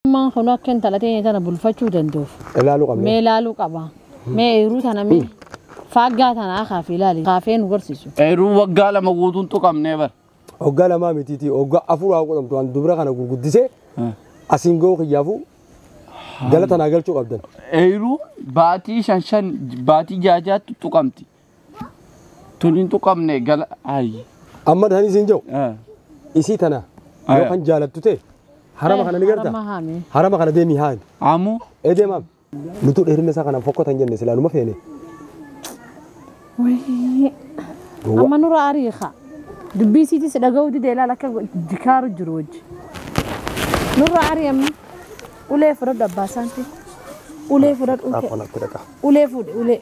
Ilmaan kun akka intala teenya tana bulfachuu danda'uuf Ilaaluu qabna. mee ilaaluu qaba. Mee eeruu tana mee faaggaa tana akaaf ilaali. Kaafee nu garsiisu. Eeruu waggaa lama guutuun tuqamnee bar. Hoggaa lamaa mitiitii hoggaa afur haa godhamtu waan dubra kana gurguddisee asiin ga'uu kiyyaafuu galata naa galchuu qabdan. Eeruu baatii shan shan baatii jaajaatti tuqamti. Tun hin tuqamne gala ayi. Amma dhani sin jau. Ah. Isi tana. Aya. Yo kan jalattu te. Harama kana ni garta. Harama haami. Harama kana demi haami. Amu. Ede mam. Nutu dherina sa kana fokko tan jenne sila numa fene. Wayii. Gowwa. Amma nura arii haa. Dubbii isiitis dhaga'uu didee ilaala akka jikaaru jiru wajji. Nurra arii amma ulee fudhadhu abbaa isaanti. Ulee fudhadhu. Akkana akka dhaqa. Ulee fuudhe ulee.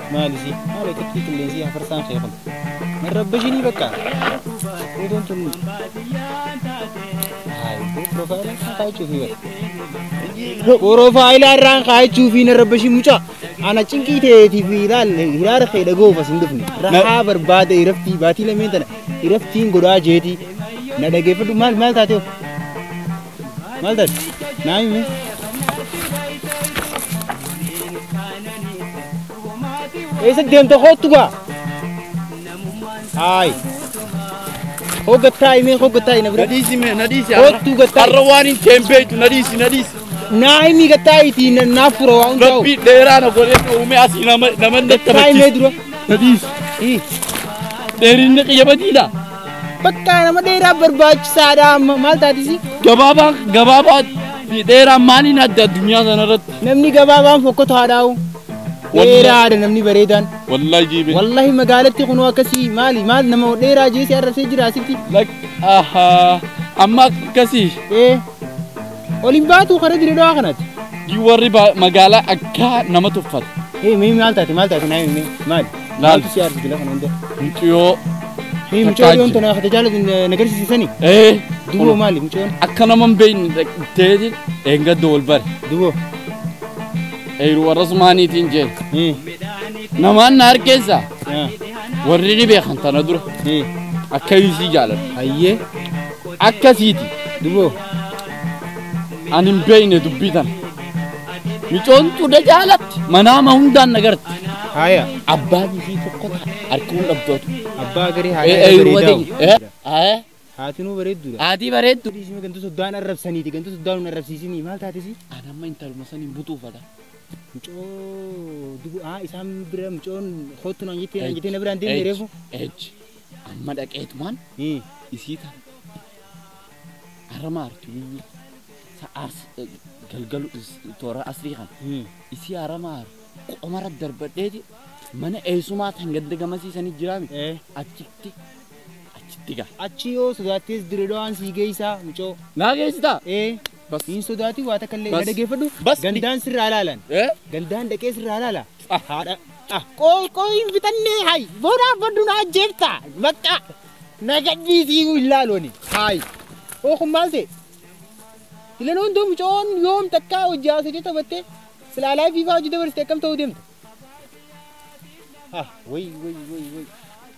Maali si maali xiqqii qilleensii hafarsaan kee kun hin rabbashinii bakka footoon tun Porofaayilaa irraan kaa'achuu fi na rabbashii mucaa ana cinqii ta'eetii fi ilaalle hiraara kee dhaga'uuf as hin dhufne rahaa barbaade iraftii baatii lameen tana iraftiin godhaa jeetii na dhageeffadhu maal maal taatee Maal taate? Naa himi. Eessa deemta koottu gaa? Haayi. Koo gattaa himee koo gattaa hina bira. Nadhiisi mee nadhiisi Kottu gattaa. har'a waan hin ta'in beektu nadhiisi nadhiisi. Naa himi gattaa itti naaf fura waan ta'u. Rabbi dheeraa na godhee na uumee asii nama nama Gattaa himee dura. Nadhiisi. Dheerinni qiyya badiidha. Bakka nama dheeraa barbaachisaadha amma maal taatisi? Gabaabaa gabaabaa fi dheeraa maaliin adda addunyaa sanarratti? Namni gabaabaan fokkota haadhaa'u. Dheeraadha namni bareedaan. Wallahi jiibee. Wallahi magaalatti kunoo akkasii maali maal nama dheeraa jeesee arrabsee jira asitti. Lak ahaa amma akkasii. Ee Ol hin baatu karaa dire dawaa kanatti. Gii warri ba- magaalaa akka nama tuffata. Hee mee maal taate maal taate naa himee maali? Laal. Maaltu si aarsi gila kana hunda? Muciyoo. Hee mucaa Takkaa dhiyoon tana hafate jaalatu na garsiisisani? Ee. Duboo maali mucoon? Akka nama hin beekne dhaqxeeti dheengadda wal bare. Duboo. Eeru warra sumaaniitiin jeen. Hee. Namaan na harkeessa. Haa. Warri ni beekan tana dura. Hee. Akka isii jaalatu. Hayyee. akkasiiti duboo an hin beeyne dubbii tana micoon xuda jaalatti manaama hundaan nagarti Haya. abbaa bifii tokko ta'a harka hunda abdootu Abbaa garii haya. Eh, eh, garii yeruma ta'u. ta'e. Eh, eh, Haatinuu bareedduudha. haatii bareeddu Dhiisni ganda soddaan arrabsaniiti. Ganda soddaan hin arrabsiisinii. Maal taatesi? an amma intaluma saniin butuufata Mucoo dubu aa isaan bira mucoon kootu naan jettee naan jettee na biraan deemne reefu. echi Amma dhaqeetumaan isii tan arama artu guyyuu sa ars galgalu toora asrii kan isii arama ar qomara darbadheeti mana eessumaa tan ganda gamasiisanii jiraame achitti achitti gaa. Achi yoo sodaattees direedawaan sii geessaa mucoo. Naa geessitaa? Ee. Bas. Hin sodaatii waa takka illee Bas. na dhageeffadhu. Bas. Gandaan sirraa ilaalan. Ee? Gandaan dhaqee sirraa ilaala. Ah, haadha. Ah, qoy qoy hin fixannee hay. Boodaa baddu na ajjeefta. Bakka. Na gadhiisii hin laaloni. Hay. Oo kun maal ta'e? Filanoon too mucoon yoom takkaa hojii haasofte taphattee silaalaa fiifaa hojii dabarsite akkam ta'uu deemta? Ah, way way way way.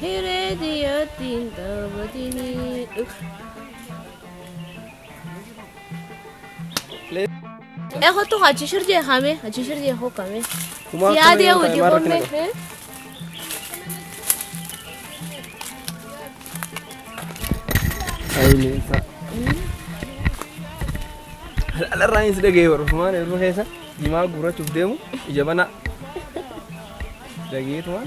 Hiree diyyatti hin taphatini. Ee kottu achi shir jee kame achi shir jee hoo kame. Kumaa Si yaadee akkana hojii yoo ta'e, maal homme. Ayileessa. Alarraanis dhaga'ee barreeffamaan yeroo keessa jimaa guurrachuuf deemu ija banaa. Dhageetuma.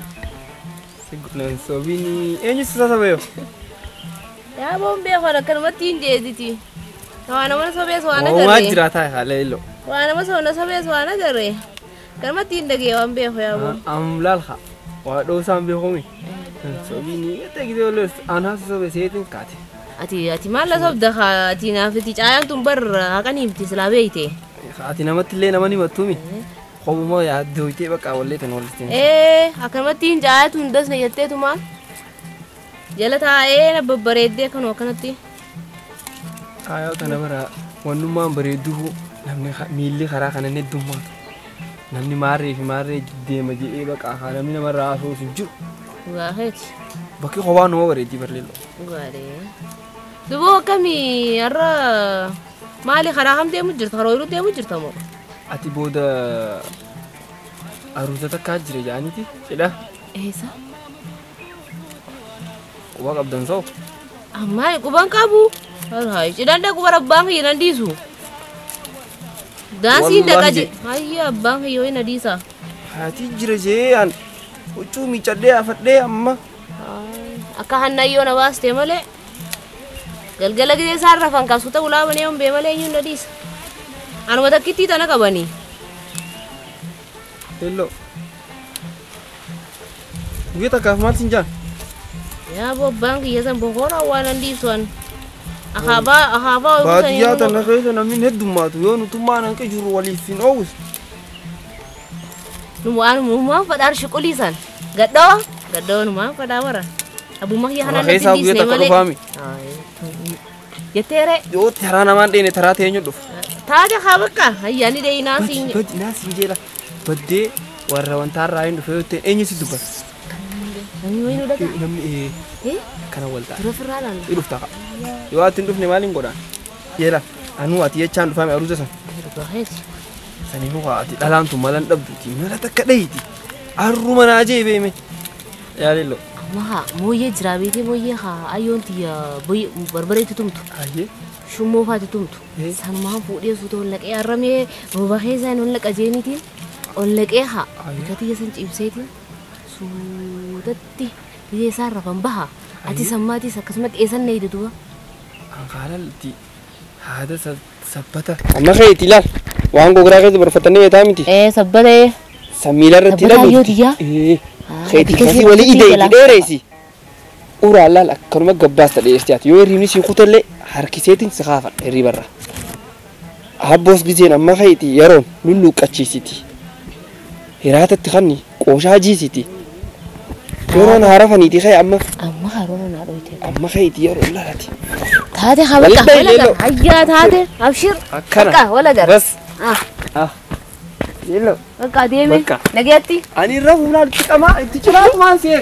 Nan sobini. Eenyu si sasabeef? Yaa bombee kun akkanumatti hin jeediti. Waa nama sobees waan Uumaa agarre. jiraataa haala illo. Waa nama soona sobees waan agarre. Akkanumatti hin dhagee waan beeku yaa boo. Amlaal haa. Waa dhoosaan beekumi. Nan sobini. Ete gidee olles anaa si sobe seetiin kaate. Ati ati maal na sobda kaa ati naaf itti caayaan tun bar haqan himti silaa beeyte. Ati namatti illee nama ni mattuumi. Qobumoo yaadduu itee bakka wallee tun wallitti hin Ee akkanumatti hin jaayatu hin dasne jetteetuma jala taa'ee na babbareeddee akkanuma akkanatti. Aayoo tana bara wannummaan bareedduu namni ka- miilli karaa kana inni heddummaa namni maarree fi maarree deema jedhee bakka haa namni namarraa haasawus hin jiru Dhugaa keeti. bakki kophaa nama bareeddii barleello. Dhugaadhee. Duboo akkamii har'a maali karaa kam deemu jirta? Karaa ooyiruu deemu jirta moo? Ati booda aruuza takkaa jira jaaniti cidha Eessa? quba qabdan soo Ammaa quban qabu. Hayi cidhan dhaqu bara abbaan kiyya nan dhiisu. Daansiin Wallahi dhaqa je. je- Hayya abbaan kiyya ho'i na dhiisa. haati jira jee an huccuu miicadhee afadhee amma Akka hannayyoon na baaste malee. Galgala gizee isaan rafan kan suuta ulaa banee yoon bee malee eenyuun na dhiisa. Anuma takkittii tana qabanii. Hello. Guyyaa takkaaf maal siin jaan? Yaa bobbaan kiyya san bokoora waan an dhiisu an. Akaabaa akaabaa ooluu san Baadiyyaa eenyuun tana keessa namni heddummaatu yoo nutummaan hanqa jiru waliif hin oowwisu. nu waan uumaa fadhaar shuqulii san. Gadhoo. Gadhoo numaa fadhaa wara. Abbummaa kiyya Warra kanaan natti keessaa hin guyyaa dhiisne takka malee. dhufaami. Jettee ree. Yoo taraa namaan dheene taraa ta'ee hin dhufu. Taate haa bakka ayyaanni deeyinaa siin jedhe. Badi naa siin jeela. Baddee warra wantaa irraa hin dhufe yoo ta'e eenyu si dubbata? Namni wayii nu dhagaa. Namni ee Eh? kana wal ta'a. Dura firraa laala. Ni dhufta ka'a. Yoo ati hin dhufne maal hin godhaan? Jeela anuu ati jechaan dhufaame aruuza sana. Dhugaa keessa. Sani muka ati dhalaan tun malan dhabduti mala takka dhayiti arruma naa jee beeme yaa lillo Amma haa mooyyee jiraa beetee mooyyee haa ayyoon tiyya boy- barbareetti tumtu. hayyee Shummoo faati tumtu. Eh. Sanumaan fuudhee suuta ol naqee arramee rooba keessaan ol naqa jeeniitiin ol naqee haa. Ayi. Bika tiyya san ciibseetiin suutatti biyya isaan rafan baha. Ati Ayi. sammaatis akkasumatti eessan na hidha duuba. an haalalti Haada sabbata. Amma keeti ilaal. Waan gogoraa keessa barfatanii beetaa miti. Ee sabbata ee. Samiila irratti Sabbataa ilalu. yoo tiyyaa? Ee. Ah, Keeti ati kasii keessa walii irratti ideeti ilaala. dheereesi. Uraa laal akkanuma gabbaasta dheerti ati yoo hirriibni sii kutellee harkiseetiin si kaafa hirriibarra. Abboos giseen amma keeti yeroon lulluuqqachiisiti. Hiraatatti kanni. Qooshaa jiisiti. Yeroon haarafaniiti kee amma. Amma haroona naa dhoyte. Amma keeti yeroo laati. Taate haa Waliin baqa. bahi, Wala Leeloo. gara. Hayyaa taate. Abshir. Akkana. Baqa wala gara. Bas. Ah. Leeloo. Baqa deeme. Baqa. Nageetti. Ani irra fuulaan itti qamaa itti ciraa tumaan seera.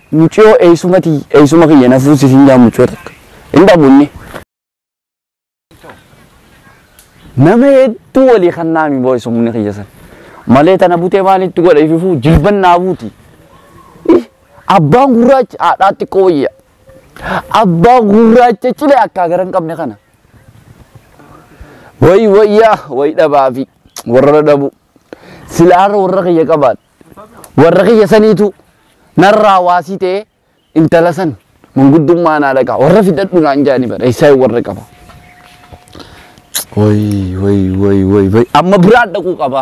Muciyoo eysuma tiyy eysuma kiyya na fuusi siin jaan muciyoo takka hin dhabu inni. Nama hedduu walii kannaami boo eysumni kiyya san malee tana butee maal itti godha ififuu jilban naa buuti. Ih, Abbaan gurraacha haadhaa xiqqoo wayya. Abbaa gurraacha cilee akkaa gara hin qabne kana. Wayi wayyaa wayi dhabaafi warra dhabu. Silaarra warra kiyya qabaadha. warra kiyya saniitu narraa waasii ta'ee intala san manguddummaa naa dhagaa warra fidadhu naan jaani bara eessaa warra qaba. Woy woy woy woy woy amma biraa dhaquu qaba.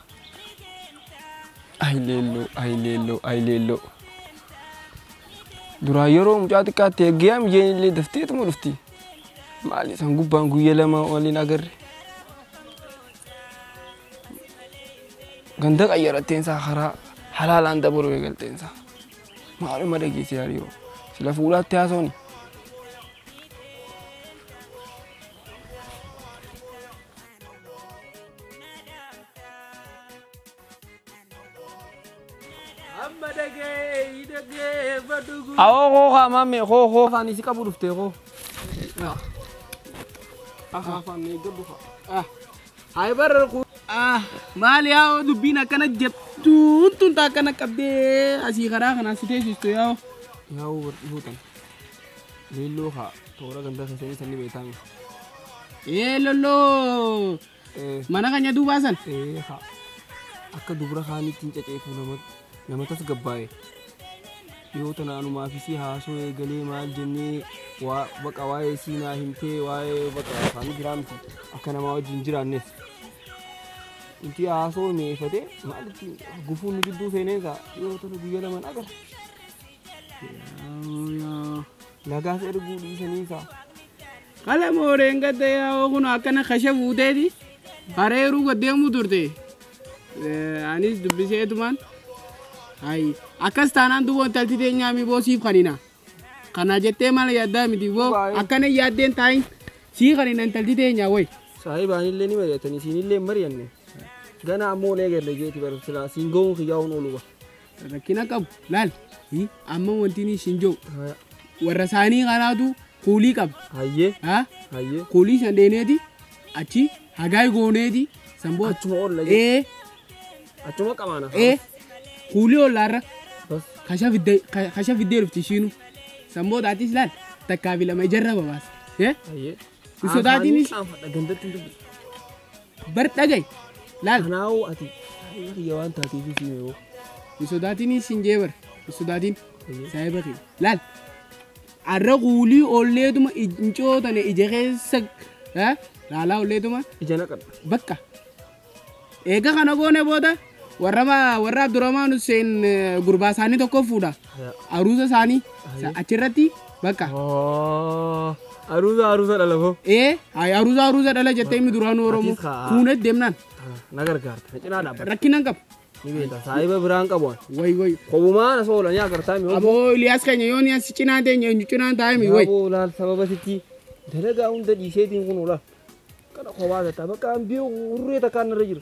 Ay leelloo, ay leelloo, ay leelloo. Duraa yeroo mucaa xiqqaatti eegee amjeen illee dafteetuma dhufti. Maali san gubbaan guyya lama waliin agarre. Ganda qayyaratteen isaa karaa halaalaan dabaluu eegalteen isaa. Maaluma dhageesse yaadiyoo. Sila fuulaatti haasawni. Amma dhagee, hin dhagee, badhugu. Awoo koo kaa maame koo koo kaan isi qabu dhufte koo. Afaan eeggadhu kaa. Hayi barra kuu. Maali yaa dubbiin akkana jettuun tun taa akkana qabdee asii karaa kanaan si teessistu yaa. Yaa wal dhihuu tana. Leelloo kaa toora gandaa keessanii sanni beektaami. Ee lolloo Ee mana kanya duubaa san. ee kaa akka dubra kaaniitti hin caceefu nama nama tasgabbaa'e. Dhiyoo tana anumaa fi si haasoo eegalee maal jennee waa baqa waa'ee sii naa himtee waa'ee baqa afaanii biraa miti akka namaa wajjin hin jiraannes. Inti haasoo mi'eeffatee maalitti gufuun nu gidduu seenee isaa dhiyoo tana guyyaa lamaan agarra. Nagaas erguu dhiisanii kaa. Hala mooreen gadda yaa'oo kun akkana kasha fuuteeti hareeruu gaddeemuu turte. Eh, Anis dubbiseetumaan. Ayi akkas taanaan duuba intalti teenyaa miboo siif kanina. Kana jettee maal yaaddaa miti boo Baay'ee. akkana yaaddeen taayin sii kanina intalti teenyaa wayi. Saahibaanillee ni mari'atanii siinillee hin mari'anne. Gana ammoo olee galla jeeti bara silaa siin ga'uun kiyyaa'uun oolu ba. rakkina qabu laal hi, amma wanti inni isin jiru Haa, warra isaanii kanaatu kuulii qaba Hayyee. haa Hayyee. kuulii san dheeneeti achi hagaay gooneeti san booda Achuma oolla jee. ee Achuma qabaana. ee kuulii ollaarra Bas. kasha fiddee ka- kasha fiddee dhufti ishiinu san booda atis laal takkaa fi lama ijarra babaasa ee Hayyee. Hin sodaatiinis. Aanfadha gandatti hin dubbisa. Bar dhaga'i. Laal. Kanaa'uu ati saahiba kiyya waan taateef fi yoo. Hin sodaatinis hin jee bar. Hin sodaatin. Saahiba kiyya. Laal. Arra kuulii olleetuma ijncoo tana ija keessa eh, laalaa olleetuma Ija naqadha. bakka. Eega kana goone booda warrama warra Abdurrahmaan Hussein gurbaa isaanii tokko fuudha. Aruuza isaanii achirratti bakka. Aruuza aruuza dhala koo. Ee aruuza aruuza dhala jettee inni duraanuu Oromoo fuunee deemnaan. Na gargaarta. Na cinaa dhaabbata. Rakkinaan qaba. Ni beekta. Saahiba biraan qabu. Way way. Kobumaa na soola ni agartaa mi. Aboo Iliyaas keenya yoo ni asi cinaa teenya eenyu cinaa taa'e mi way. Aboo laal sababa sitti dalagaa hunda dhiiseetiin kun oola. Kana kobaa tataa bakka ambiyoo urree takkaan irra jiru.